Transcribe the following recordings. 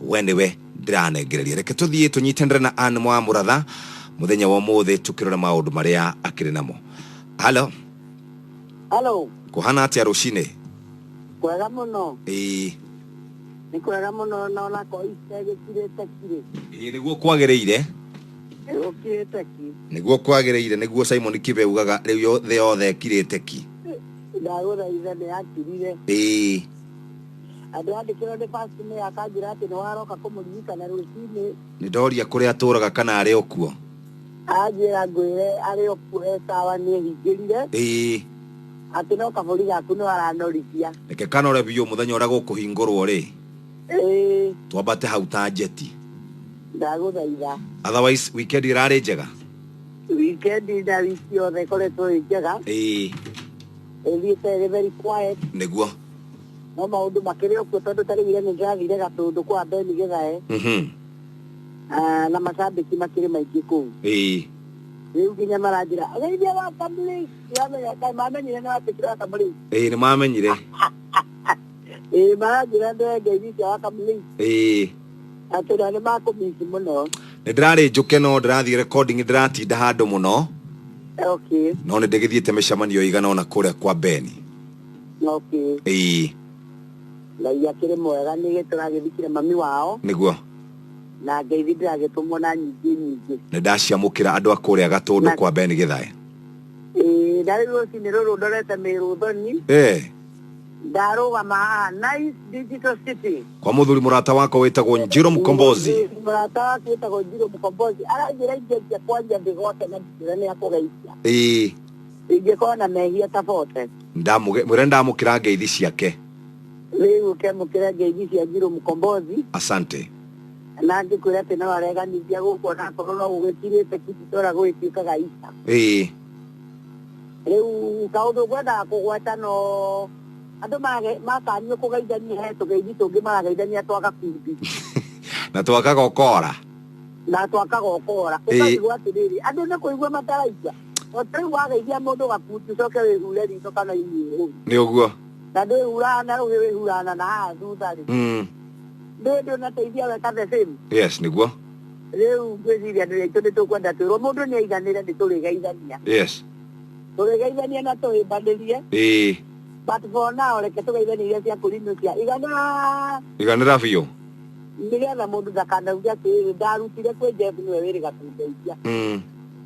we nĩwe ndĩranengereria reke tũthiĩ tũnyitanĩre na an mwa mũratha mũthenya wa ũmũthĩ tũkĩrora maũndũ marĩa akĩrĩ namo halo Halo, kũhana atĩa rũcinĩ kwega mũno. ĩĩ Nĩ kwega mũno na ona ko ite gĩkirĩte kirĩ. ĩĩ, nĩguo kwagĩrĩire Gĩkirĩte ki. nĩguo kwagĩrĩire nĩguo simon kibe ugaga rĩu yo- thĩ yothe kirĩte ki Ndagũthaitha nĩ akirire. ĩĩ Akĩandĩkĩrwo nĩ Pasine akanjĩra atĩ nĩ waroka kũmũririkana rũcinĩ. Nĩ ndoria kũrĩa atũũraga kana arĩ o kuo. Anjĩra ngwĩre arĩ o kuo e sawa nĩ ehingĩrire. Ĩĩ. Atĩ no kabũri gaku no aranorithia. Reke kanore biũ mũthenya ũrĩa gũkũhingũrwo rĩ. Ĩĩ. Twambate hau ta njeti. Ndagũthaitha. Otherwise weekend ĩrarĩ njega? Weekend na wiki yothe ĩkoretwo ĩ njega. Ĩĩ. Ĩthiĩte ĩrĩ very quiet. Nĩguo. no maũndũ makĩrĩ okuo tondũ ta rĩu irene nĩrathire gatũndũ kwa beni gĩthae Mhm. Ah, na macambĩki makĩrĩ maingĩ kũu Ĩĩ. rĩu nginya maranjĩra geithia wa kamũrĩ yamenya kaĩ mamenyire na watuĩkire wa kamũrĩ Ĩĩ, nĩ mamenyire ĩĩ maranjĩra ndoe ngeithi cia wa kamũrĩ Ĩĩ. atĩ na nĩ makũmĩci mũno nĩ ndĩrarĩ njũke no ndĩrathiĩ recording ndĩratinda handũ mũno okay no nĩ ndĩgĩthiĩte mĩcemanio igana ona kũrĩa kwa beni okay ĩĩ ngai akĩrĩ mwega nĩgĩ tũragĩthikire mami wao nĩguo na ngeithi ndĩragĩtũmwo na nyingĩ nyingĩ nĩ ndaciamũkĩra andũ a kũrĩa gatũndũ Na- kwa beni gĩthae Ĩĩ, na rĩu rũcinĩ rũrũ ndorete mĩrũthoni Eh, ndarũgama haha nice digital city kwa mũthuri mũrata wakwa wĩtagwo njiro mkombozi mũrata waku wĩtagwo njiro mkombozi aranjĩra ingĩanjia kwanjia ndĩgote na ndĩra nĩ akũgeithia ĩĩ ingĩkorwo na mehia ta bote mwĩre ndamũkĩra ngeithi ciake rĩu ũkemũkĩra ngeithi cia njirũ mũkombothi asante na angĩkwĩra atĩ no areganithia gũkũ ona akorwo no gũgĩkirĩte kĩtitũra gũgĩtuĩkaga isa ĩĩ rĩu kaũndũ ngwendaga kũgweta no andũ mage- makanio kũgeithania he tũgeithi tũngĩ marageithania twa gakundi na twakaga ũkora na twakaga ũkora Ĩĩ. ũkaigua atĩrĩrĩ andũ nĩ kũigua mataraigua Rĩu wageithia mũndũ gakundi ũcoke wĩhure ritho kana iniũrũ. Nĩ ũguo. Na ndwĩhuraga na rũhĩ wĩhuraga na na haha thutha rĩ. Mm. Ndũĩ ndũnateithia weka the same. Yes, nĩguo. Rĩu ngwĩciria nĩ aitũ nĩ tũkwenda twĩrwo mũndũ nĩ aiganĩre nĩ tũrĩgeithania. Yes. Tũrĩgeithania na tũhĩmbanĩrie. Ĩĩ. But for now reke tũgeithanie iria cia kũrinũkia. Iganĩra. Iganĩra biũ. Nĩgetha mũndũ ndakanauge atĩrĩrĩ ndarutire kwĩ Jeff nĩwe wĩrĩga kũndeithia. Mm.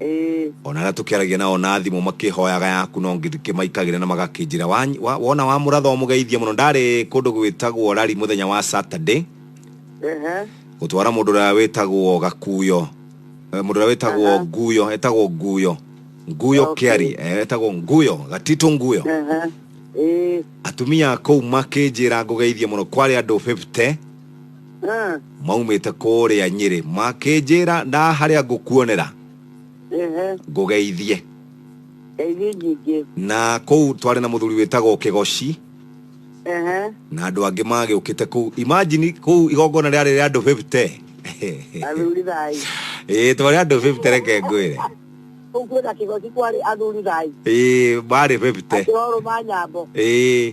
Ĩĩ. O na arĩa tũkĩaragia nao na thimũ makĩhoyaga yaku no ngĩmaikagĩra na magakĩnjĩra "Wa- wa- wona wamũratha ũmũgeithie mũno. Ndarĩ kũndũ gwĩtagwo rari mũthenya wa Saturday Ehe. gũtwara mũndũ ũrĩa wĩtagwo Gakuyo Eh, mũndũ ũrĩa wĩtagwo Aha. Nguyo etagwo Nguyo Nguyo Okay. Kĩari eh, etagwo Nguyo Gatito Nguyo Ehe. Ĩĩ. atumia kũu makĩnjĩra ngũgeithie mũno kwarĩ andũ 50 Eh, maumĩte kũrĩa nyĩrĩ makĩnjĩra nda harĩa ngũkuonera ehe, ngũgeithie ngeithie nyingĩ. na kũu twarĩ na mũthuri wĩtagwo kĩgoci Ehe, na andũ angĩ magĩũkĩte kũu imagine kũu igongona rĩarĩ rĩa andũ 50 athuri thai. ĩĩ twarĩ andũ 50 reke ngwĩre Kũu kwĩna kĩgoci kwarĩ athuri thai. ĩĩ marĩ 50 Akĩrorwo ma nyambo. ĩĩ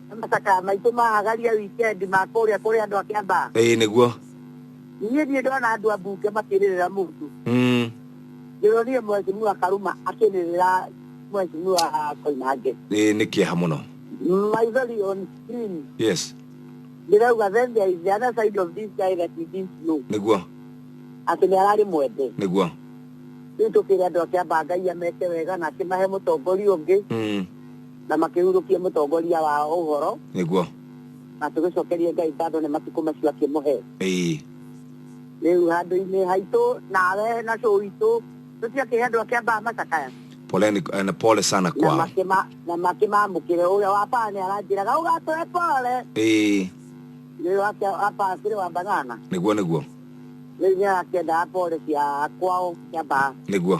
Nĩ macakaya maitũ ma Hagaria wikendi ma kũrĩa kũrĩ andũ a Kĩambaa. ĩĩ nĩguo Niĩ ndiĩ ndona andũ a mbunge makĩrĩrĩra mũndũ. Mm. Ndĩronire Mheshimiwa Karuma akĩrĩrĩra Mheshimiwa Koinange. ĩĩ nĩ kĩeha mũno Maithori on screen. yes Ndĩrauga then there is the other side of this guy that we didn't know. nĩguo Atĩ nĩ ararĩ mwende. nĩguo Rĩu tũkĩrĩ andũ a Kĩambaa Ngai ameke wega na akĩmahe mũtongoria ũngĩ. Mm. na makĩhurũkia mũtongoria wao ũhoro nĩguo na tũgĩcokerie ngai ngatho nĩ matukũ macio akĩmũhe ĩĩ rĩu handũ-inĩ haitũ nawe na cũ witũ tũtiakĩhe andũ akĩambaga macakaya poleni eh, na pole sana na kwao makĩma- na makĩmamũkĩre ũrĩa wa baa nĩ aranjĩraga ũgatũhe pole ĩĩ rĩu wake wa baa kĩrĩ wa banana nĩguo nĩguo rĩu nĩ arakĩendaga pole cia kwao cia baa nĩguo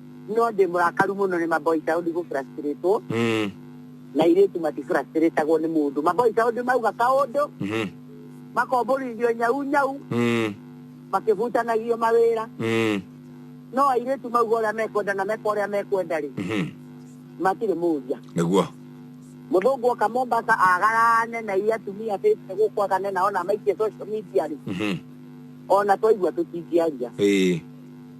no ndĩ mũrakaru mũno nĩ maboi cao ndigũ frustrate wo Mm. na irĩtu matifurastrĩtagwo nĩ mũndũ maboi cao ndĩ mauga kaũndũ Mhm. makombũrithio nyau nyau Mm. makĩbutanagio mawĩra Mm. no airĩtu mauga ũrĩa mekwenda na meka ũrĩa mekwenda rĩ Mhm. matirĩ mũria Nĩguo. mũthũngũ oka mombasa agarane na iria atumia bĩte gũkũ agane nao na maikie social media rĩ Mhm. ona twaigua tũtingĩaria Ĩĩ.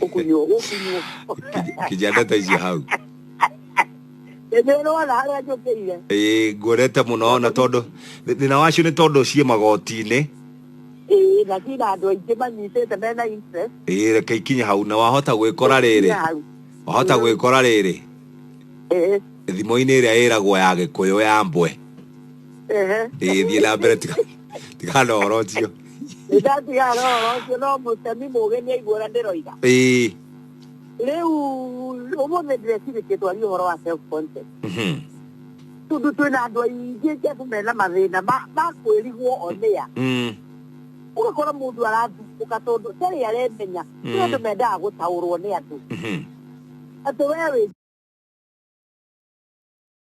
Ũkunyuo, ũkunyuo. Kijana ta icio hau. Ĩndĩ ũrona harĩa njũkĩire. Ĩĩ ngwendete mũno ona tondũ thĩna wacio nĩ tondũ ciĩ magoti-inĩ. Ĩĩ, na ciĩna andũ aingĩ manyitĩte mena interest. Ĩĩ reke ikinye hau na wahota gwĩkora rĩrĩ. Kinya hau. Wahota gwĩkora rĩrĩ. Ĩĩ. Thimo-inĩ ĩrĩa ĩragwo ya Gĩkũyũ ya mbwe. Ehe. ĩgĩthiĩ na mbere tiga tiga na ũhoro ũcio Nĩ ndatiga ũhoro ũcio no mũtemi mũũgĩ nĩ aigua ũrĩa ndĩroiga. ĩĩ Rĩu ũmũthĩ ndĩrecirĩtie twarie ũhoro wa self concept. mhm, Tondũ twĩna andũ aingĩ njebu mena mathĩna ma- ma kwĩrigwo onĩa. mm, Ũgakora mũndũ arathumbũka tondũ ndarĩ aremenya. Nĩ Mm. andũ mendaga gũtaũrwo nĩ andũ. mhm. Atĩ wee wĩ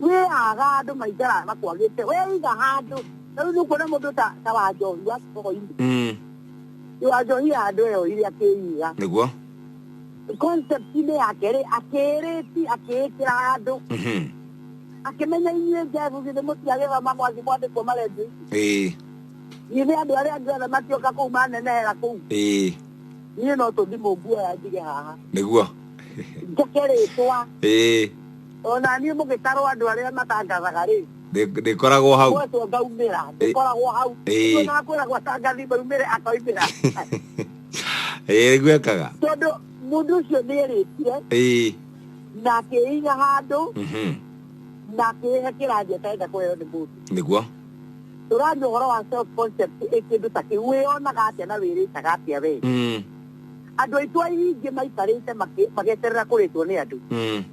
Wee aga andũ maikara makwagĩte. Wee iga handũ. Na rĩu nĩũkuona mũndũ ta ta wa njohi wa kĩbogoinĩ. Mm. Nĩ wa njohi ya andũ ĩyo ĩrĩa akĩiga. Nĩguo. Concept-inĩ yake rĩ, akĩĩrĩti akĩĩkĩra handũ. Mhm. Akĩmenya inyuĩ njebu githĩ mũtiagĩthoma mwathi mwandĩkwo marendio ici. Ĩĩ. Githĩ andũ arĩa angĩ othe makĩũka kũu manenehera kũu. Ĩĩ. Niĩ no tũthimũ nguoya njige haha. Nĩguo. Njake rĩtwa. Ĩĩ. O na niĩ mũgĩtarwo andũ arĩa matangathaga-rĩ. Ndĩ, ndĩkoragwo hau. Mwetwo ngaumĩra, Ĩ- ndĩkoragwo hau. Ĩ. Rĩu ona akwĩragwo atangathi maumĩre akoimĩra. Ĩĩ, nĩguo ekaga. Tondũ mũndũ ũcio nĩerĩtire Ĩĩ. na akĩiga handũ Mhm. na akĩhe kĩrangi atarenda kũheo nĩ mũndũ. Nĩguo. Tũraria ũhoro wa self concept ĩ kĩndũ ta kĩu wĩyonaga atĩa na wĩrĩtaga atĩa wee? Mm. Andũ aitũ aingĩ maikarĩte makĩ- mageterera kũrĩtwo nĩ andũ. Mm.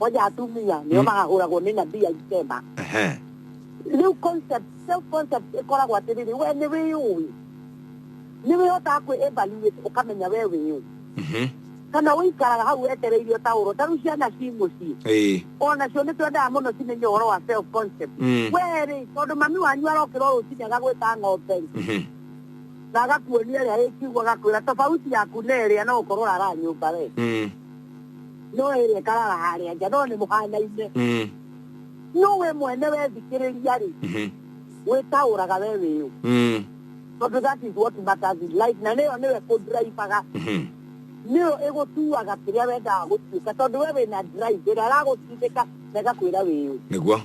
moja atumia nĩo mahahũragwo nĩ nabii aisema Ehe. rĩu concept self concept ĩkoragwo atĩrĩrĩ we nĩ wĩyũĩ nĩ wĩhotaga kwĩ evaluate ũkamenya we wĩyũ Mhm. kana ũikaraga hau wetereire ũtaũrwo ta rĩu ciana ci mũciĩ Ĩĩ. onacio nĩ twendaga mũno cimenye ũhoro wa self concept Mm. werĩ tondũ mami wanyu arokĩra o rũcinĩ agagwĩta ng'ombe rĩ, Mhm. na agakuonia ĩrĩa ĩkiugo agakwĩra tofauti yaku na ĩrĩa no gũkorwo ũrara nyũmba we Mm. no ĩrĩa ĩkaraga harĩa nja no nĩ mũhanaine mm. no we mwene wethikĩrĩria rĩ mhm. wĩtaũraga we wĩũ mm. tondũ that is what matters in life na nĩyo nĩwe kũndraibaga mhm. nĩyo ĩgũtuaga kĩrĩa wendaga gũtuĩka tondũ we wĩna drive ĩrĩa aragũtindĩka na ĩgakwĩra wĩũ nĩguo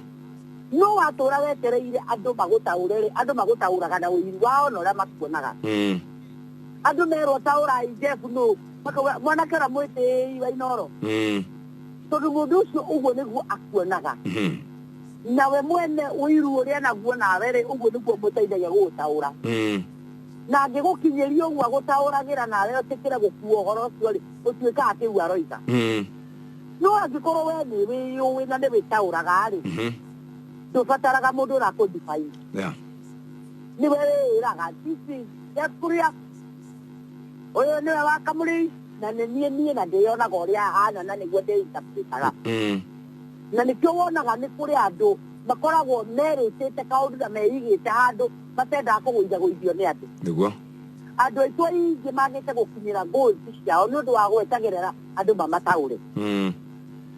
no watũra wetereire andũ magũtaũre rĩ andũ magũtaũraga na ũiru wao na ũrĩa makuonaga mm. andũ merwo taũrai jebu nũ Maka wa- mwanake ũrĩa mwĩtĩĩi wa inoro Mm. tondũ mũndũ ũcio ũguo nĩguo akuonaga Mhm. nawe mwene ũiru ũrĩa naguo nawe rĩ ũguo nĩguo mũteithagia gũgũtaũra Mm. na angĩgũkinyĩria ũguo agũtaũragĩra nawe ũtĩkĩre gũkua ũhoro ũcio rĩ ũtuĩkaga kĩu aroiga Mm. no angĩkorwo we nĩ wĩyũĩ na nĩ wĩtaũraga rĩ Mhm. ndũbataraga mũndũ ũrakũndibai Yeah. nĩwe wĩĩraga this is just kũrĩa ũyũ nĩwe wa kamũrĩi na nĩ niĩ niĩ na ndĩyonaga ũrĩa ahana na nĩguo ndĩinterpretaga Mm. na nĩkĩo wonaga nĩ kũrĩ andũ makoragwo merĩtĩte kaũndũ na meigĩte handũ matendaga kũgũithagũithio nĩ andũ Nĩguo. andũ aitũ aingĩ magĩte gũkinyĩra goals ciao nĩ ũndũ wa gweterera andũ mamataũre Mm.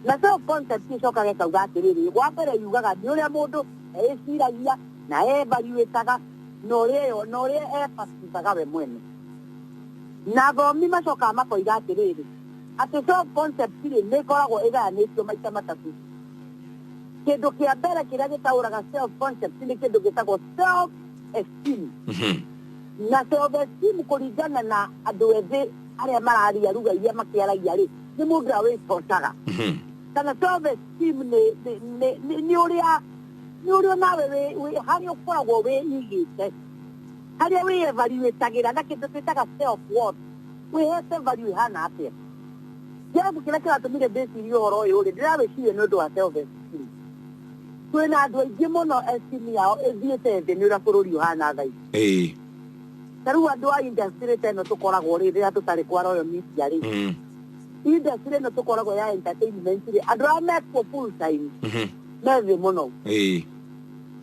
na self concept ĩcokaga ĩkauga atĩrĩrĩ wa mbere yugaga nĩ ũrĩa mũndũ eciragia na evaluataga na ũrĩa ĩyo, na ũrĩa ebatisaga we mwene. Na athomi macokaga makoiga atĩrĩrĩ, atĩ self concept rĩ, nĩ ĩkoragwo ĩgayanĩtio maita matatũ. Kĩndũ kĩa mbere kĩrĩa gĩtaũraga self concept nĩ kĩndũ gĩtagwo self esteem. Mhm. na self esteem kũringana na andũ ethĩ arĩa mararia lugha iria makĩaragia rĩ nĩ mũndũ ũrĩa wĩtocaga Mhm. kana self esteem nĩ nĩ- nĩ- nĩ- nĩ ũrĩa nĩ ũrĩ o nawe wĩ- wĩ- harĩa ũkoragwo wĩigĩte harĩa wĩevaluĩtagĩra na kĩndũ twĩtaga self worth wĩhete value ĩhana atĩa kĩrabu kĩrĩa kĩratũmire ndĩcirie ũhoro ũyũ rĩ ndĩrawĩciria nĩ ũndũ wa self esteem twĩna andũ aingĩ mũno esteem yao ĩthiĩte thĩ nĩ ũrĩa bũrũri ũhana thaa ici ĩĩ ta rĩu andũ a industry ta ĩno tũkoragwo rĩ rĩrĩa tũtarĩ kwa royo media rĩ Mm, industry ĩno tũkoragwo ya entertainment rĩ andũ arĩa mekuo full time mhm, me thĩ mũno Ĩĩ.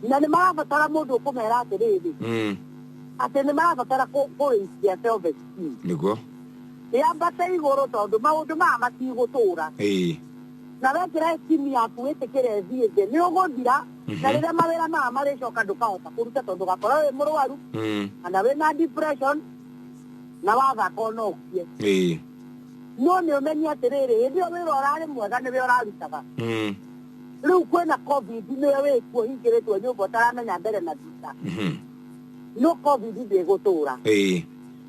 na nĩ marabatara mũndũ ũkũmera atĩrĩrĩ Mm. atĩ nĩ marabatara kũ- kũrĩithia self esteem Nĩguo. yambate igũrũ tondũ maũndũ maya matigũtũra Ĩĩ. na wekĩra esteem yaku wĩtĩkĩre thiĩ thĩ nĩ ũgũthira na rĩrĩa mawĩra maya marĩcoka ndũkahota kũruta tondũ gakorwo wĩ mũrwaru Mm. kana wĩna depression na wathaka ona ũkie Ĩĩ. no nĩ ũmenye atĩrĩrĩ hĩndĩ ĩyo wĩra ũrarĩ mwega nĩwe ũrarutaga Mm. rĩu kwĩna covid nĩwe wĩkuo hingĩrĩtwo nyũmba ũtaramenya mbere na thutha Mhm. no covid ndĩgũtũra Ĩĩ,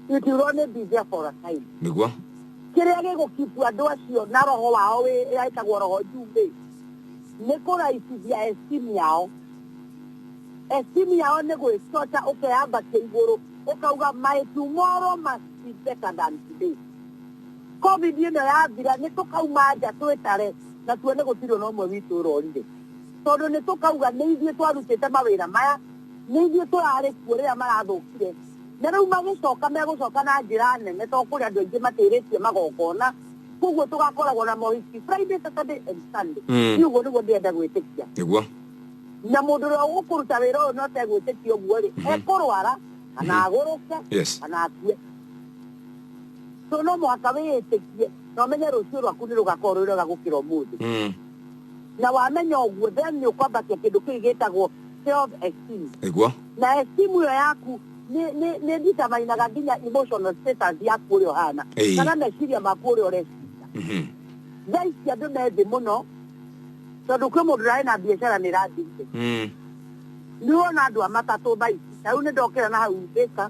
itirwo nĩ bize for a time nĩguo kĩrĩa gĩgũkibu andũ acio na roho wao wĩ- wĩtagwo roho njumbe nĩ kũraicithia estimu yao estimu yao nĩ gwĩcoca ũkeyambatia igũrũ ũkauga my tomorrow must be better than today Covid ĩno yathira nĩ tũkauma nja twĩtare na tuone gũtirĩ o na ũmwe witũ ũrorire. Tondũ nĩ tũkauga nĩ ithuĩ twarutĩte mawĩra maya, nĩ ithuĩ tũrarĩ kuo rĩrĩa marathũkire. Na rĩu magĩcoka megũcoka na njĩra nene tondũ kũrĩ andũ aingĩ matĩrĩtie magongona, kwoguo tũgakoragwo na mohiki Friday, Saturday and Sunday. Mm. Niĩ ũguo nĩguo ndĩrenda gwĩtĩkia. Nĩguo. Na mũndũ ũrĩa ũgũkũruta wĩra ũyũ na ũtegwĩtĩkia ũguo-rĩ, ekũrwara kana agũrũke Yes. kana akue. so no mũhaka wĩĩtĩkie na ũmenye rũciũ rwaku nĩ rũgakorwo rwĩ rwega gũkĩra ũmũthĩ Mm. na wamenya ũguo then nĩ ũkwambatia kĩndũ kĩu gĩtagwo self esteem Nĩguo. na esteem ĩyo yaku nĩ- nĩ nĩ nditamainaga nginya emotional status yaku ũrĩa ũhana Ĩĩ. kana meciria maku ũrĩa ũreciria Mhm. thaa ici andũ me thĩ mũno tondũ kwĩ mũndũ ũrarĩ na biacara nĩ ĩrathirire Mm. nĩwona andũ a matatũ thaa ici na rĩu nĩ ndokĩra na hau mbĩka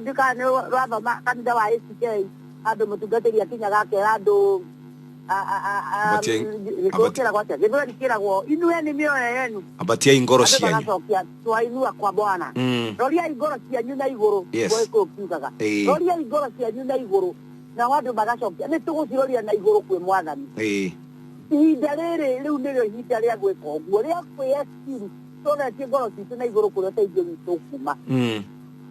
Ndika nĩ rwathoma kanitha wa ACK andũ mũtungatĩri akinyaga akera andũ kĩragwo atĩa gĩthweri kĩragwo inueni mĩoyo yenu ambatiai ngoro andũ cianyu magacokia twainua kwa bwana Mm. roriai ngoro cianyu na igũrũ Yes. gũgĩkũyũ kiugaga Ĩĩ. roriai ngoro cianyu na igũrũ nao andũ magacokia nĩ tũgũciroria na igũrũ kwĩ mwathani Ĩĩ. ihinda rĩrĩ rĩu nĩrĩo ihinda rĩa gwĩka ũguo rĩa kwĩyeciru tũretie ngoro citũ na igũrũ kũrĩa ũteithio witũ kuma Mm.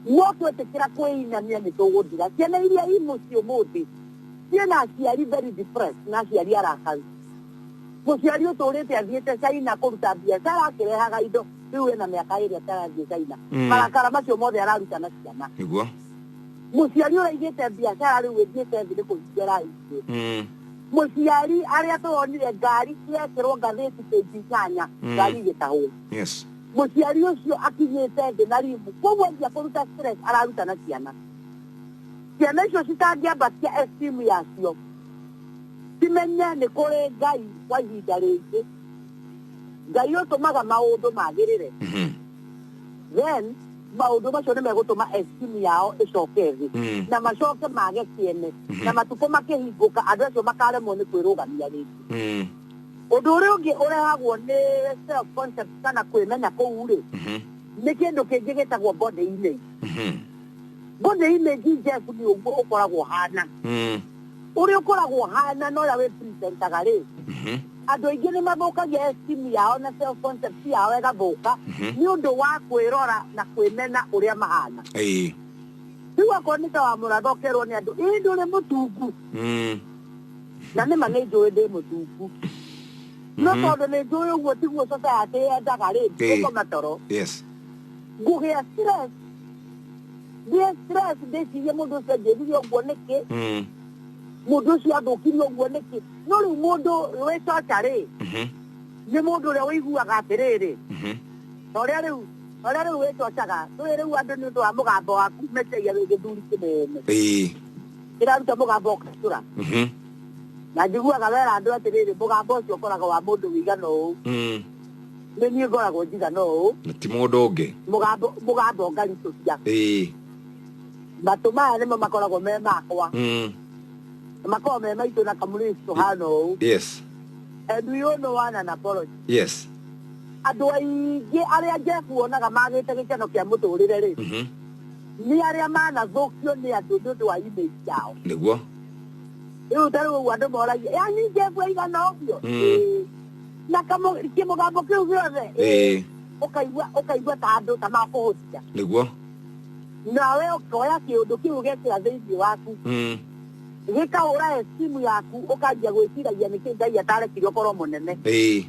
No twetĩkĩra kwĩinamia nĩtũgũthira. Ciana iria i mũciĩ ũmũthĩ ciĩna aciari very depressed na aciari arakaru. Mũciari ũtũrĩte athiĩte China kũruta biacara akĩrehaga indo rĩu ena mĩaka ĩrĩ atarathiĩ China. Marakara macio mothe araruta na ciana. Nĩguo. Mũciari ũraigĩte biacara rĩu ĩthiĩte thĩ nĩ kũhinga ĩrahingire. Mũciari arĩa tũronire ngari yekĩrwo ngathĩti page inyanya ngari igĩtahwo. Yes. Mũciari ũcio akinyĩte thĩ na ribu kwoguo anjia kũruta stress araruta na ciana. Ciana icio citangĩambatia esteem yacio cimenye nĩ kũrĩ Ngai kwa ihinda rĩngĩ. Ngai ũtũmaga maũndũ magĩrĩre. Mhm. Then maũndũ macio nĩ megũtũma esteem yao ĩcoke thĩ Mm. na macoke mage kĩene na matukũ makĩhingũka andũ acio makaremwo nĩ kwĩrũgamia rĩngĩ. Mm. Ũndũ ũrĩa ũngĩ ũrehagwo nĩ self concept kana kwĩmenya kũu rĩ Mhm. nĩ kĩndũ kĩngĩ gĩtagwo body image. Mhm. Body image Jeff nĩ ũguo ũkoragwo hana. Mm. Ũrĩa ũkoragwo hana na ũrĩa wĩ presentaga rĩ Mhm. andå aingä nä mathåkagia estimu yao na self concept yao ĩgathũka Mhm. nä å ndå wa kwä rora na kwä mena å rä a mahana Ĩĩ. rä u akorwo nä ta wa må ratha å kerwo nä andå ä ndå rä må tungu Mm. na nĩ ma nĩ njũĩ ndĩ mũtungu no Mhm. tondũ nĩ njũĩ ũguo tiguo society yendaga rĩ Ĩĩ. ngũkoma toro yes ngũgĩa stress ngĩe stress ndĩcirie mũndũ ũcio angĩrire ũguo nĩkĩ Mm, mũndũ ũcio athũkire ũguo nĩkĩ no rĩu mũndũ wĩ coca rĩ mhm, nĩ mũndũ ũrĩa ũiguaga atĩrĩrĩ mhm. na ũrĩa rĩu na ũrĩa rĩu wĩcocaga ndũĩ rĩu andũ nĩ ũndũ wa mũgambo waku meciria wĩ gĩthuri kĩnene Ĩĩ. ndĩraruta mũgambo ũkatũra Mhm. na njiguaga wera andũ atĩrĩrĩ mũgambo ũcio ũkoraga wa mũndũ wĩigana ũũ Mm. nĩ niĩ ngoragwo njigana ũũ na ti mũndũ ũngĩ mũgambo mũgambo ngaritũhia Ĩĩ. matũ maya nĩmo makoragwo me makwa Mm. makoragwo me maitũ na kamũrĩci tũhana ũũ yes and we all know one an apology yes andå aingä arä a njeku wonaga magä te gä keno kä a må tå rä re rä Mhm. nĩ arĩa manathũkio nĩ andũ nĩ ũndũ wa image ciao nĩguo rĩu ta rĩu ũguo andũ moragia ya ningĩ mbua igana ũguo Mm. Ĩĩ. na kamũ- kĩmũgambo kĩu gĩothe Ĩĩ. ũkaigua ũkaigua ta andũ ta makũhũtia nĩguo nawe ũkoya kĩũndũ kĩu ũgekĩra thĩinĩ waku Mm. gĩkahũra esimu yaku ũkanjia gwĩciragia nĩkĩ ngai atarekire ũkorwo mũnene Ĩĩ.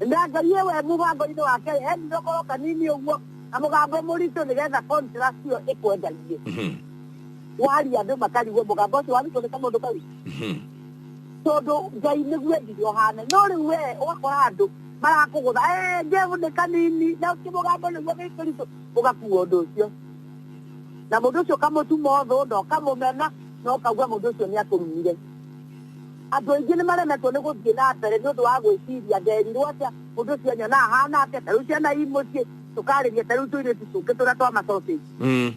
na ngai we mũbango-inĩ wake endire ũkorwo kanini ũguo na mũgambo mũritũ nĩgetha contrast ĩyo ĩkwendagie Mhm. waria andũ makarigwo mũgambo ũcio warutwo nĩ kamũndũ kau Mhm. tondũ ngai nĩguo endire ũhane no rĩu we ũgakora andũ marakũgũtha "Eh, ngevu nĩ kanini na kĩmũgambo nĩguo gĩ kĩritũ ũgakuua ũndũ ũcio na mũndũ ũcio ũkamũtuma ũthũ na ũkamũmena na ũkauga mũndũ ũcio nĩ akũrumire andũ aingĩ nĩ maremetwo nĩ gũthiĩ na mbere nĩ ũndũ wa gwĩciria nderirwo atĩa Mũndũ ũcio anyona ahana atĩa, ta rĩu ciana i mũciĩ, tũkarĩria ta rĩu tũirĩtu tũngĩ tũrĩa twa macoci. Mm.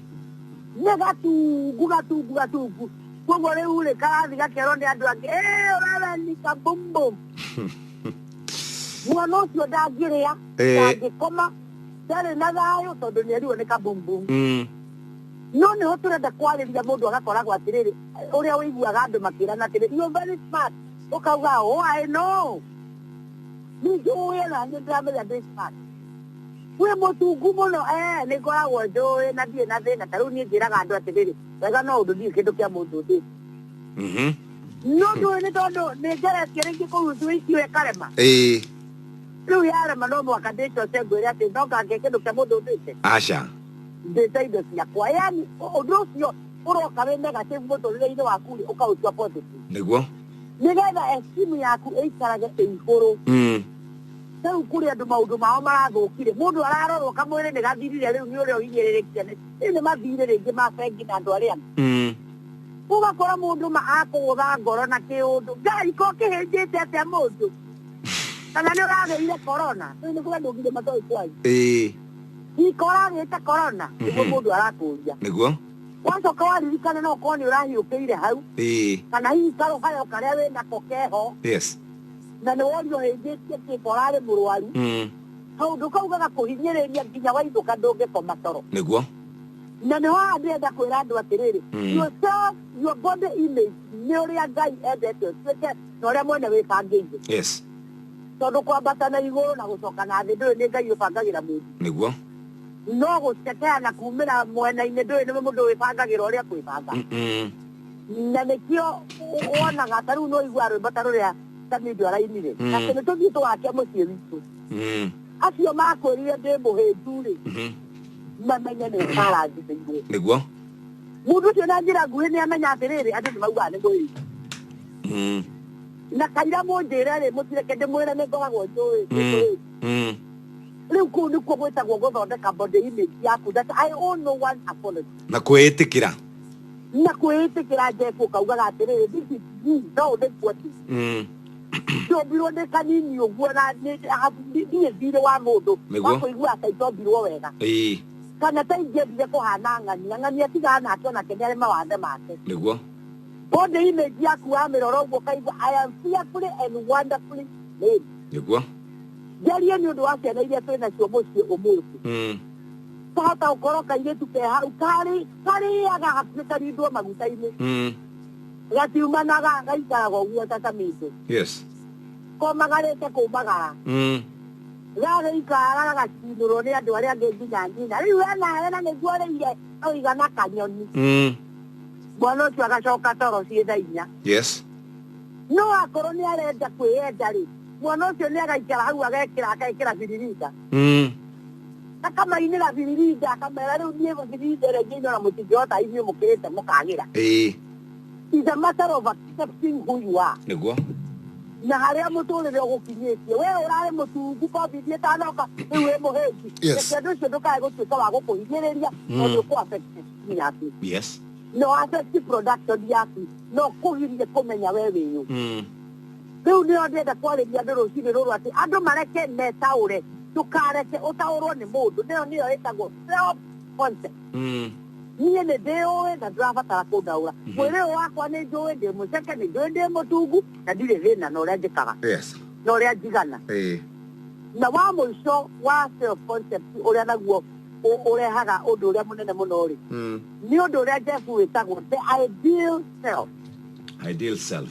Nĩ gatungu, gatungu, gatungu. Koguo rĩu rĩ, karathi gakerwo nĩ andũ angĩ, "Ĩ, wewe ni kabumbum." Mwana ũcio ndangĩrĩa, Eh. ndangĩkoma, ndarĩ na thayũ tondũ nĩ erirwo nĩ kabumbum. Mm. no nä ho tå renda kwarä må ndå agakoragwo atä rä rä å rä a å iguaga andå makä rana atä rä very smart å kauga waä no nĩ njũĩ ona nĩ ndĩramenya ndĩ smart wĩ mũtungu mũno eh nĩ ngoragwo njũĩ na ndirĩ na thĩna ta rĩu niĩ njĩraga andũ atĩrĩrĩ wega no ũndũ ndirĩ kĩndũ kĩa mũndũ ndĩ Mhm. no ndũĩ nĩ tondũ nĩ ngeretie rĩngĩ kũrutua icio ĩkarema Ĩĩ. rĩu yarema no mwaka ndĩcoce ngwĩre atĩ no ngange kĩndũ kĩa mũndũ ndĩte Aca. ndĩte indo ciakwa yani ũndũ ũcio ũroka wĩ negative mũtũrĩre-inĩ waku rĩ ũkaũtua positive Nĩguo. nĩgetha estimu yaku ĩikarage ĩ igũrũ mm. rĩu kũrĩ andũ maũndũ mao marathũkire mũndũ ararorwo kamwĩrĩ nĩ gathirire rĩu nĩ ũrĩa ũhinyĩrĩrĩkire nĩ rĩu nĩ mathirĩ rĩngĩ ma bengi na andũ arĩa angĩ. Mm. ũgakora mũndũ ma akũgũtha ngoro na kĩũndũ ngai ko kĩhĩnjĩte atĩa mũndũ kana nĩ ũragĩire korona rĩu nĩ kũrĩa ndũgire matoĩ kwanyu ĩĩ ikora agĩte korona nĩguo Mhm. mũndũ arakũria nĩguo wacoka waririkana no ũkorwo nĩ ũrahiũkĩire hau Ĩĩ. kana hihi karũhayo karĩa wĩ nako keho Yes. na nĩ worio hĩngĩtie kĩmba ũrarĩ mũrwaru Mm. kaũndũ kau gagakũhinyĩrĩria nginya wainũka ndũngĩkoma toro Nĩguo. na nĩho haha ndĩrenda kwĩra andũ atĩrĩrĩ Mm. yourself your body image nĩ ũrĩa ngai endete ũtuĩke na ũrĩa mwene wĩbangĩire Yes. tondũ kwambata na igũrũ na gũcoka na thĩ ndũrĩ nĩ ngai ũbangagĩra mũndũ Nĩguo. no gũcekeana kumĩra mwena-inĩ ndũĩ nĩ mũndũ wĩbangagĩra ũrĩa kwĩbanga Mm-mm. na nĩkĩo ũ- wonaga ta rĩu nĩwaigua rwĩmbo ta rũrĩa tamidio arainire Mm. atĩ nĩ tũthiĩ tũwake mũciĩ witũ Mm. acio makwĩrire ndĩ mũhĩndu-rĩ Mhm. mamenye nĩ marathithĩirwo nĩguo mũndũ ũcio na njĩra nguhĩ nĩ amenya atĩrĩrĩ andũ nĩ maugaga nĩ mũhĩndu Mm. na kaira mũnjĩre-rĩ mũtireke ndĩmwĩre nĩ ngoragwo njũĩ nĩ Mm. mũhĩndu Mm. rĩu kũu nĩkuo gwĩtagwo gũthondeka body image yaku that I owe no one apology na kwĩĩtĩkĩra na kwĩĩtĩkĩra Jesu ũkaugaga atĩrĩrĩ this is me no this what is Mm. ndombirwo nĩ kanini ũguo na nĩ- ha- nĩ- ndirĩ thirĩ wa mũndũ Nĩguo. wa kũigua ata itombirwo wega Ĩĩ, kana ta ingĩendire kũhana ng'ania ng'ania tiga nake onake nĩ arĩ mawathe make nĩguo body image yaku wamĩrora ũguo ũkaigua I am fearfully and wonderfully made nĩguo njarie nĩ ũndũ wa ciana iria twĩ nacio mũciĩ ũmũthĩ Mm. kahota gũkorwo kairĩtu ke hau karĩ karĩaga hakuhĩ karindwo maguta-inĩ Mm. gatiumanaga gaikaraga ũguo ta kamĩte Yes. komagarĩte kũmagara Mm. gagĩikara gagacinũrwo nĩ andũ arĩa angĩ nginya nyina rĩu ena hena nĩguo rĩire oigana kanyoni Mm. mwana ũcio agacoka toro ciĩ tha inya Yes. no akorwo nĩ arenda kwĩyenda rĩ mwana ũcio nĩ agaikara hau agekĩra agekĩra biririnda Mm. akamainĩra biririnda akamera rĩu niĩ biririnda ĩrĩa ingĩinora mũtingĩhota inyuĩ mũkĩrĩte mũkagĩra Ĩĩ. is a matter of accepting who you are Nĩguo. na harĩa mũtũrĩre ũgũkinyĩtie we ũrarĩ mũtungu covid ĩtanoka rĩu wĩ mũhĩngi Yes. reke ũndũ ũcio ndũkae gũtuĩka wa gũkũhinyĩrĩria tondũ ũkũ affect destiny yaku Yes. no affect production yaku no kũgirie kũmenya we wĩyũ Mm. Rĩu nĩo ndĩenda kwarĩria andũ rũcinĩ rũrũ atĩ andũ mareke metaũre, ndũkareke ũtaũrwo nĩ mũndũ. Nĩyo nĩyo ĩtagwo self concept. Mm. Niĩ nĩ ndĩũĩ na ndũrabatara kũndaũra. Mwĩrĩ ũyũ wakwa nĩ njũĩ ndĩ mũceke, nĩ njũĩ ndĩ mũtungu na ndirĩ thĩna na ũrĩa njĩkaga Yes. na ũrĩa njigana. Eh. Na wa mũico wa self concept ũrĩa naguo ũ- ũrehaga ũndũ ũrĩa mũnene mũno rĩ, Mm. nĩ ũndũ ũrĩa Jesu wĩtagwo the ideal self. Ideal self.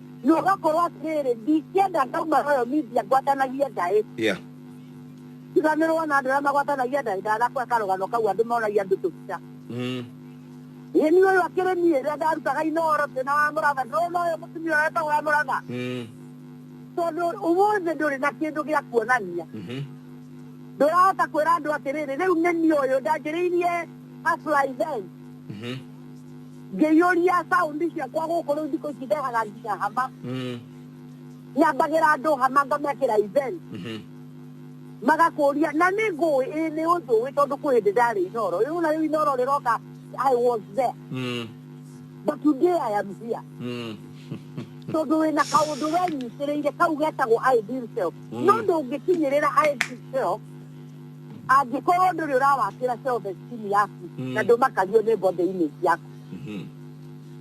na ũgakorwo atĩrĩrĩ ndingĩenda ndauma royal media ngwatanagie ndaĩ yeah tiganĩrwo na andũ arĩa magwatanagia ndaĩ ndanakwä karũgano kau andũ monagia andũ tũbica mm ĩĩ niĩ ũyũ akĩrĩ niĩ rĩrĩa ndarutaga inoro twĩna wa mũratha ndĩrona ũyũ mũtumia ũyũ etagwo wa mũratha mm tondũ ũmũthĩ ndũrĩ na kĩndũ gĩa kuonania mhm ndũrahota kwĩra andũ atĩrĩrĩ rĩu nĩ niĩ ũyũ ndanjĩrĩirie hustler event mhm ngĩiyũria saundi ciakwa gũkũ rĩu thikũ ici ndehaga nginya hama Mm. nyambagĩra andũ hama ngamekĩra event Mhm. magakũria na nĩ ngũĩ ĩ nĩ ũnjũĩ tondũ kwĩ hĩndĩ ndarĩ inoro rĩu na rĩu inoro rĩroka i was there Mm. but today i am here Mm. tondũ wĩna kaũndũ wenyitĩrĩire kau getagwo ideal self no ndũngĩkinyĩrĩra ideal self angĩkorwo ndũrĩ ũrawakĩra self-esteem yaku Mm. na ndũmakagio nĩ body image yaku Mhm.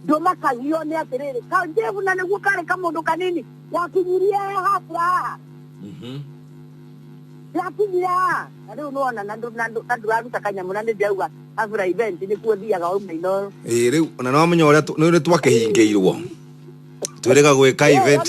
ndũmakagio nĩ atĩrĩrĩ kanjevu na nĩguo karĩ kamũndũ kanini gakinyirie hafura haha Mhm. gakinyire haha na rĩu nĩwona na ndũ- na ndũ- na ndũraruta kanyamũ na nĩ ndĩrauga hafura event nĩkuo thiaga wauma inoyo Ĩĩ, rĩu ona nĩwamenya ũrĩa tũ- nĩ ũrĩa twakĩhingĩirwo twĩrĩga gwĩka event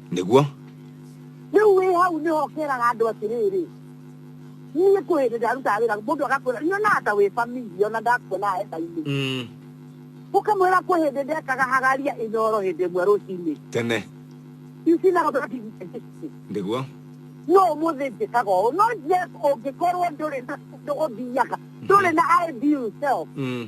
Nĩguo. Rĩu wĩ hau nĩho kĩraga andũ atĩrĩrĩ, niĩ kwĩ hĩndĩ ndarutaga wĩra mũndũ agakwĩra nyonaga ta wĩ famili ona ndakuona enda-inĩ Mm. ũkamwĩra kwĩ hĩndĩ ndekaga hagaria ĩnyoro hĩndĩ ĩmwe rũcinĩ Tene. ici na Nĩguo. no ũmũthĩ njĩkaga ũũ no yes ũngĩkorwo ndũrĩ na ũthiaga ndũrĩ na ideal self Mm.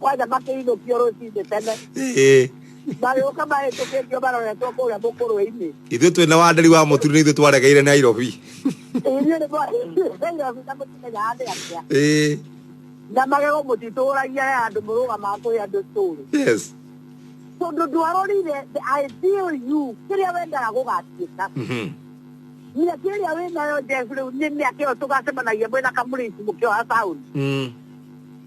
kwa da make ino pioro si de tene Eh, bayoka bahĩtũkĩtio baroretwo kũrĩa mũkũrũ-inĩ ithuĩ twĩ na wandari wa mũturi nĩ ithuĩ twaregeire nairobi inyuĩ nĩ mwaĩirobita mũtimenya andĩ atĩa Eh, na magego mũtitũragia he andũ mũrũgamaga kũhe andũ story yes tondũ ndwarorire the ideal you kĩrĩa wendaga gũgatuĩka Mhm. mĩaka ĩrĩa wĩnayo jesu rĩu nĩ mĩaka ĩyo tũgacemanagia mwĩna kamũrĩci mũkĩoha taũni Mm.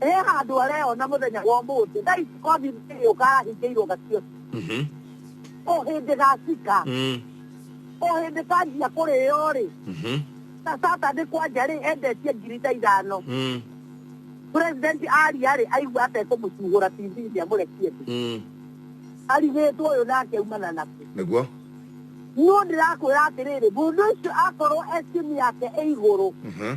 Ĩ handũ areyona mũthenya wa ũmũthĩ, thaa ici kothi ĩgĩũka ahingĩirwo gacio. Mhm. O hĩndĩ gacika, Mm. o hĩndĩ kanjia kũrĩo-rĩ, Mhm. na Saturday kwanja-rĩ, endetie ngiri ta ithano. Mm. President aria-rĩ, aigua atekũmũcuhũra TV-inĩ amũrekie thĩ. Mm. Arigĩtwo ũyũ nake aumana naku. Nĩguo. Niĩ ndĩrakwĩra atĩrĩrĩ, mũndũ ũcio akorwo estimu yake ĩ igũrũ, Mhm.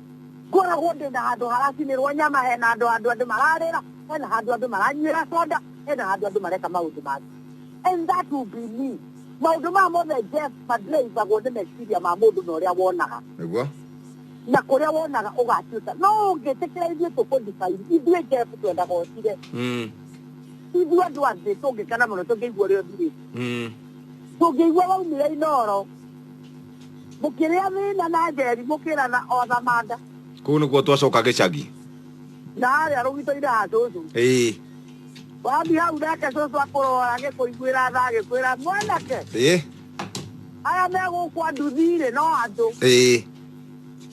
Ngoragwo ndĩ na handũ haracinĩrwo nyama, hena handũ handũ andũ mararĩra, hena handũ andũ maranyuĩra soda, hena handũ andũ mareka maũndũ mangĩ. And that will be me. Maũndũ maya mothe Jeff madrivagwo nĩ meciria ma mũndũ na ũrĩa wonaga. Nĩguo. Na kũrĩa wonaga ũgatuĩka. No ũngĩtĩkĩra ithuĩ tũkũdefine, ithuĩ Jeff twendaga ũthire. Mm. Ithuĩ andũ a thĩ tũngĩkena mũno tũngĩigua ũrĩa ũthirĩte. Mm. Tũngĩigua waumire Inooro, Mũkĩrĩa thĩna na njeri mũkĩrana o na manda. Kũu nĩkuo twacoka gĩcagi. Na harĩa rũgitoinĩ ha cũcũ. Ĩĩ. Wathiĩ hau nake cũcũ akũrora agĩkũiguĩra tha agĩkwĩra mwanake. Ĩĩ. Aya me gũkũ a nduthi-rĩ no andũ. Ĩĩ.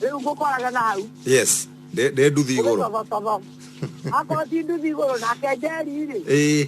Rĩu ngũkoraga na hau. Yes. Ndĩ ndĩ nduthi igũrũ. Ũgĩtothototho. Akorwo ti nduthi igũrũ nake njeri-rĩ. Ĩĩ.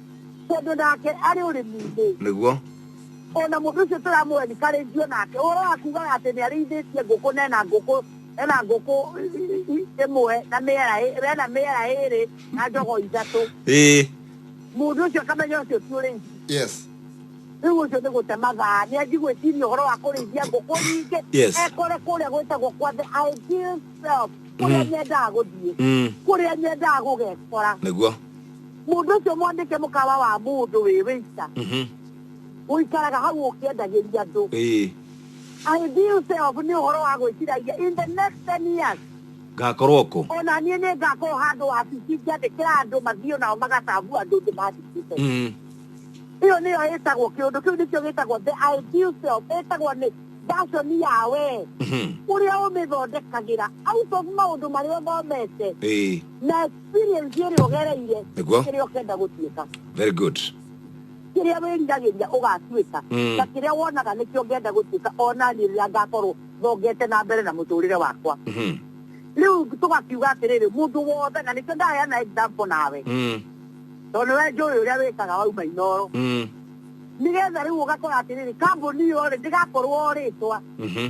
tondũ nake arĩ ũrĩmi-inĩ nĩguo o na mũndũ ũcio tũramũhe nĩ karĩithio nake ũhoro wa kugaga atĩ nĩ arĩithĩtie ngũkũ na ena ngũkũ ena ngũkũ ĩmwe na mĩera ĩ- ena mĩera ĩrĩ na njogo ithatũ ĩĩ mũndũ ũcio akamenya ũcio ti ũrĩithia yes rĩu ũcio nĩ gũte mathaa nĩ anji gwĩciria ũhoro wa kũrĩithia ngũkũ nyingĩ Yes. ekore kũrĩa gwĩtagwo kwa the ideal self kũrĩa nyendaga gũthiĩ Mm. kũrĩa nyendaga gũgekora nĩguo mũndũ ũcio mwandĩke mũkawa wa mũndũ wĩ wĩita Mhm. ũikaraga hau ũkĩendagĩria andũ Ĩĩ. I deal self nĩ ũhoro wa gwĩciragia in the next 10 years ngakorwo kũ ona niĩ nĩ ngakorwo handũ wabici ngĩandĩkĩra andũ mathiĩ nao magatambu andũ ndĩ mandĩkĩte Mm. ĩyo nĩyo ĩtagwo kĩũndũ kĩu nĩkĩo gĩtagwo the ideal self ĩtagwo nĩ version ya we Mhm. ũrĩa ũmĩthondekagĩra out of maũndũ marĩa ũthomete Ĩĩ. na experience ĩrĩa ũgereire Nĩguo. kĩrĩa ũkenda gũtuĩka very good kĩrĩa wĩriragĩria ũgatuĩka Mm. na kĩrĩa wonaga nĩkĩo ngenda gũtuĩka ona niĩ rĩrĩa ngakorwo thongete na mbere na mũtũrĩre wakwa Mhm. rĩu tũgakiuga atĩrĩrĩ mũndũ wothe na nĩkĩo ndaheana example nawe Mm. tondũ nĩwe njũĩ ũrĩa wĩkaga wauma inoro Mm. nĩgetha rĩu ũgakora atĩrĩrĩ kambuni ĩyo rĩ ndĩgakorwo rĩtwa Mhm.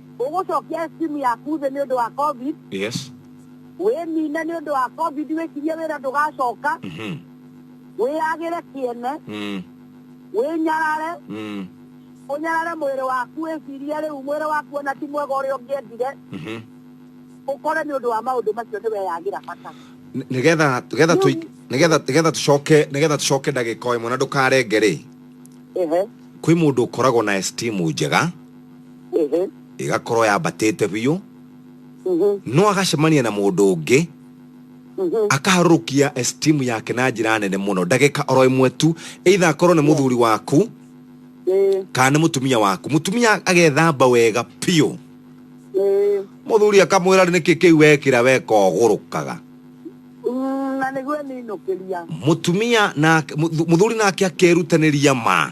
Ũgũcokia SIM yaku thĩ nĩ ũndũ wa Covid. Yes. Wĩnine nĩ ũndũ wa Covid wĩkirie wĩra ndũgacoka. Mhm. Wĩyagĩre kĩene. Mm. Wĩnyarare. Mm. Ũnyarare mwĩrĩ waku wĩcirie rĩu mwĩrĩ waku ona ti mwega ũrĩa ũngĩendire. Mhm. Ũkore nĩ ũndũ wa maũndũ macio nĩ weyagĩra bata. Nĩ- Nĩgetha nĩgetha tũi- Rĩu- nĩgetha nĩgetha tũcoke nĩgetha tũcoke ndagĩka o ĩmwe na ndũkarenge rĩ. Ehe. Kwĩ mũndũ ũkoragwo na esteem njega. Ehe. ĩgakorwo yambatĩte biũ Mhm. no agacemania na mũndũ ũngĩ Mhm. akaharũrũkia esteem yake na njĩra nene mũno ndagĩka oro ĩmwe tu either akorwo nĩ mũthuri waku Eh. kana nĩ mũtumia waku mũtumia agethamba wega biũ Eh. mũthuri akamwĩra rĩ nĩkĩ kĩu wekĩra weka ũgũrũkaga Mm, na nĩguo ninũkĩria mũtumia nake- mũthu- mũthuri nake akerutanĩria ma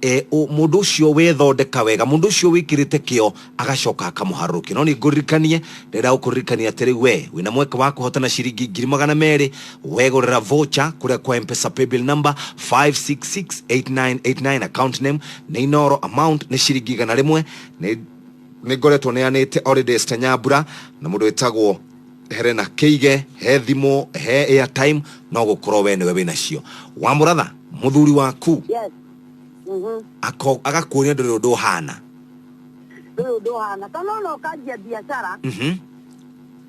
e, ũ, mũndũ ũcio wethondeka wega mũndũ ũcio wĩkĩrĩte kĩo agacoka akamũharũrũkia no nĩ ngũririkanie ndĩrenda gũkũririkania atĩrĩ we wĩna mweke wa kũhotana ciringi ngiri magana merĩ wegũrĩra vocha kũrĩa kwa mpesa paybill number 5668989 account name nĩ inoro amount nĩ ciringi igana rĩmwe nĩ nĩ ngoretwo neanĩte already Esther nyambura na mũndũ wĩtagwo herena kĩige he thimũ he airtime no gũkorwo we nĩwe wĩnacio wamũratha mũthuri waku Yes. Mhm. ako- agakuonia ndũrĩ ũndũ ũhana Ndũrĩ ũndũ ũhana. Kana ona ũkanjia biacara, Mhm.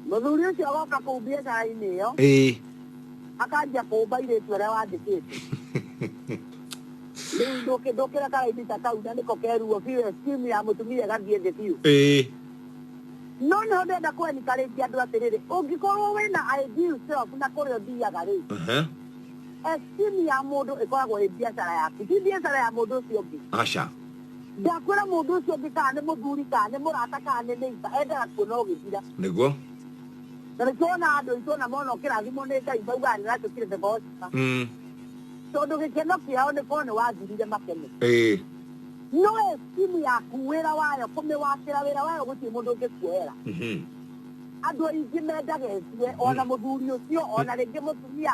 mũthuri ũcio agoka kũu biacara-inĩ ĩyo, Ĩĩ. akanjia kũũmba irĩtu arĩa wandĩkĩte. Rĩu ndũkĩ- ndũkĩra karaini ta kau na nĩko keruo biũ, esteem ya mũtumia ĩgathiĩ thĩ biũ. Ĩĩ. No nĩho ndenda kũenika rĩngĩ andũ atĩrĩrĩ, ũngĩkorwo wĩna ideal self na kũrĩa ũthiaga rĩ, Aha. Esteem ya mũndũ ĩkoragwo ĩ biacara yaku, ti biacara ya mũndũ ũcio ũngĩ. Aca. Ndakwĩra mũndũ ũcio ũngĩ kana nĩ mũthuri, kana nĩ mũrata, kana nĩ neighbor, endaga kuona ũgĩthira. Nĩguo. Na nĩkĩo wonaga andũ aitũ ona mona ũkĩrathimwo nĩ Ngai maugaga nĩũratuĩkire the gospel. Mm. Tondũ gĩkeno kĩao nĩ korwo nĩwathirire makene. Ĩĩ. No esteem yaku, wĩra wayo, kũmĩwakĩra, wĩra wayo gũtirĩ mũndũ ũngĩkuoera. Mhm. Andũ aingĩ mendaga ethire, ona mũthuri ũcio, ona rĩngĩ mũtumia,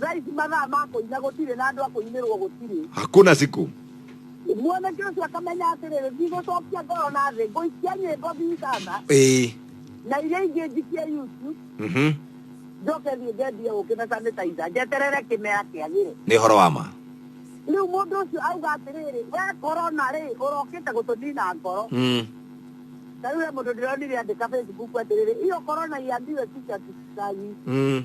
Thaa ici mathaa ma kũina gũtirĩ na andũ a kũinĩrwo gũtirĩ. Hakuna siku. Mwanake ũcio akamenya atĩrĩrĩ, ndigũcokia ngoro na thĩ, ngũikia nyĩmbo Bigana Ĩĩ. na iria ingĩ njikie YouTube, Mhm. njoke thiĩ ngendie ũkĩ na sanitizer, njeterere kĩmera kĩagĩre. Nĩ ũhoro wa ma. Rĩu mũndũ ũcio auga atĩrĩrĩ, we korona rĩ, ũrokĩte gũtũnina ngoro. Mm. Ta rĩu he mũndũ ndĩronire andĩka Facebook atĩrĩrĩ, hiyo korona iambiwe kichwa kisagi. Mm.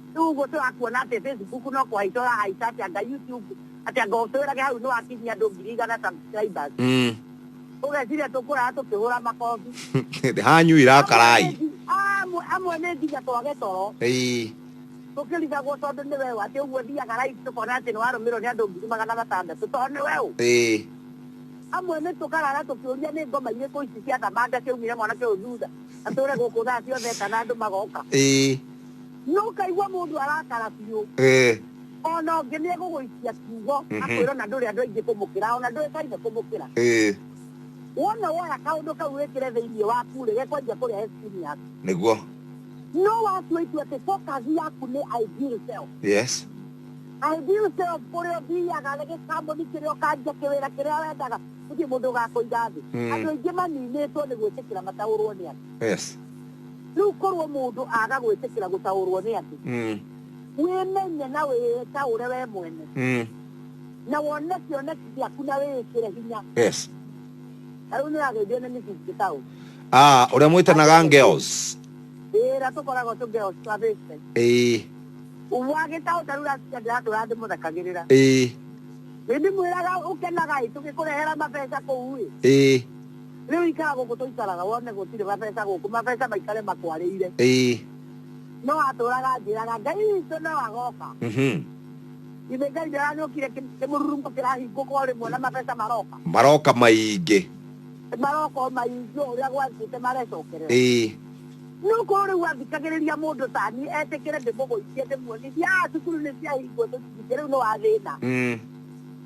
Rĩu ũguo tũrakuona atĩ Facebook no kũhaica ũrahaica atĩ anga YouTube atĩ anga ũtwĩrage hau nĩwakinyia andũ ngiri igana subscribers. Mm. Ũgeciria tũkũrara tũkĩhũra makobi. Hanyu irakarai. Amwe amwe nĩ nginya twage toro. Ĩĩ. Tũkĩrigagwo tondũ nĩ weũ atĩ ũguo thiaga live tũkona atĩ nĩwarũmĩrwo nĩ andũ ngiri magana matandatũ tondũ nĩ weũ. Ĩĩ. Amwe nĩ tũkarara tũkĩũria nĩ ngoma irĩkũ ici cia thamanga ciaumire mwanake ũyũ thutha atũre gũkũ thaa ciothe kana andũ magoka. Ĩĩ. no ũkaigua mũndũ arakara biũ Eh, ona ũngĩ nĩ egũgũikia kiugo Mhm. akwĩra ona ndũrĩ andũ aingĩ kũmũkĩra ona ndũĩkaine kũmũkĩra eh, wona woya kaũndũ kau wĩkĩre thĩinĩ waku rĩ gekwanjia kũrĩa esini yaku nĩguo no watua itua atĩ focus yaku nĩ ideal self yes ideal self kũrĩa ũthiaga rĩ gĩkambũni kĩrĩa ũkanjia kĩwĩra kĩrĩa wendaga gũtirĩ mũndũ ũgakũiga thĩ Mm. andũ aingĩ maninĩtwo nĩ gwĩtĩkĩra mataũrwo nĩ andũ yes rĩu korwo mũndũ aga gwĩtĩkĩra gũtaũrwo nĩ andũ Mm. wĩmenye na wĩtaũre we mwene Mm. na wone kĩoneki gĩaku na wĩĩkĩre hinya Yes. na rĩu nĩrageithio nĩ mĩthingĩ taũ Ah, ũrĩa mwĩtanaga Ngeos. wĩra tũkoragwo tũngeo twabĩte Ĩĩ. wagĩtaũ tarĩu rasikia ndĩratũra ndĩmũthakagĩrĩra Ĩĩ. nĩndĩmwĩraga ũkenaga ĩ tũgĩkũrehera mabeca kũu ĩ Ĩĩ. Rĩu ikara gũkũ tũikaraga wone gũtirĩ mabesa gũkũ, mabesa maikare makwarĩire. Ĩĩ. No atũraga anjĩraga, Ngai witũ no agoka. Mhm. Githĩ Ngai ndaranyũkire kĩ- kĩmũrurumbo kĩrahingũka o rĩmwe na mabesa maroka? Maroka maingĩ. Maroka o maingĩ o ũrĩa gwathĩte marecokerera. Ĩĩ. No korwo rĩu athikagĩrĩria mũndũ ta niĩ etĩkĩre ndĩmũgũithie ndĩmuonie, thiaga cukuru nĩ ciahingwo tũtingĩ rĩu nĩ wa thĩna. Mm.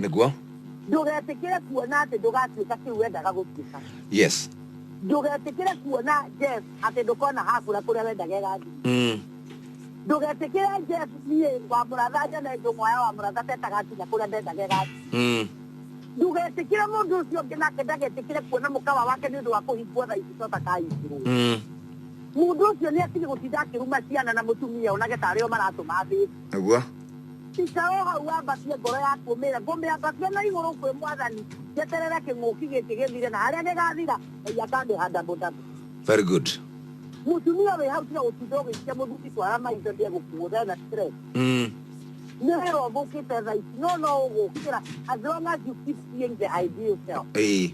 Nĩguo. Ndũgetĩkĩre kuona atĩ ndũgatuĩka kĩu wendaga gũtuĩka. Yes. Ndũgetĩkĩre kuona Jeff atĩ ndũkona hakũra kũrĩa wendaga ĩgathiĩ. Mm. Ndũgetĩkĩre Jeff niĩ wa mũratha nyone njũng'waya wa mũratha ta ĩtagakinya kũrĩa ndendaga ĩgathiĩ. Mm. Ndũgetĩkĩre mũndũ ũcio ũngĩ nake ndagetĩkĩre kuona mũkawa wake nĩ ũndũ wa kũhingwo thaa ici tota kahingĩrwo. Mm. Mũndũ ũcio nĩ atige gũtinda akĩruma ciana na mũtumia onage ta arĩo maratũma thĩ. Nĩguo. Ica o hau wambatie ngoro yaku ũmĩĩre, Ngũmĩambatia na igũrũ kwĩ Mwathani, njeterere kĩng'ũki gĩkĩ gĩthire, na harĩa gĩgaathira, Ngai akandĩha double double. Very good. Mũtumia wĩ hau tiga gũtinda ũgĩikia mũthuri twara maitho nĩ egũkũgũtha na stress. Mm. Nĩ wĩra ũthũkĩte thaa ici no no ũgũkĩra as long as you keep seeing the ideal self. Ĩĩ.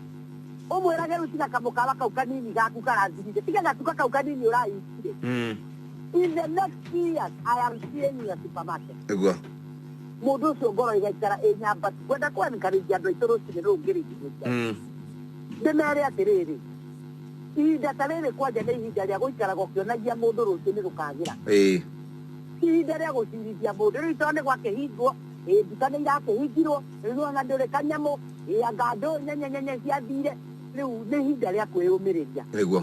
Ũmwĩrage rĩu tiga kamũkawa kau kanini gaku karathirire, tiga gatuka kau kanini ũrahingire. Mm. in the next three years i am seeing you at supermarket egwu a mũndũ ũcio ngoro igaikara ĩ nyamba ngwenda kwenkarĩria andũ aitũ rũcinĩ rũu ngĩrĩgithĩria Mm. ndĩmere atĩrĩrĩ ihinda ta rĩrĩ kwanja nĩ ihinda rĩa gũikaraga ũkĩonagia mũndũ rũcinĩ rũkagĩra ĩĩ ihinda rĩa gũcirithia mũndũ rĩu tondũ nĩ gwakĩhingwo ĩ, nduka nĩ irakĩhingirwo rĩu ona ndũrĩ kanyamũ ĩanga ndũ nyenyenyenye ciathire rĩu nĩ ihinda rĩa kwĩyũmĩrĩria nĩguo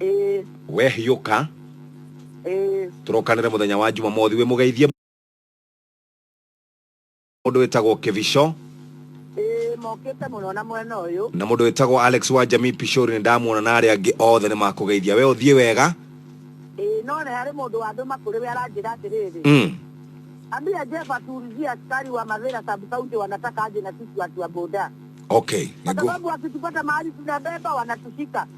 ĩĩ we hiũka ĩĩ tũrokanĩre mũthenya wa jumamothi wĩ mũgeithie mũndũ wĩtagwo kĩbico ĩĩ mokĩte mũno na mwena ũyũ na mũndũ wĩtagwo alex wa jamii pishori nĩ ndamuona na arĩa angĩ othe nĩ makũgeithia we ũthiĩ wega ĩĩ no nĩ harĩ mũndũ wandũma kũrĩ we aranjĩra atĩrĩrĩ mm. ambia jeba tuulizia askari wa mavira sabkaunti wanataka aje na sisi watu wa boda okay kwa Nĩgu- sababu wakitupata mahali tunabeba wanatushika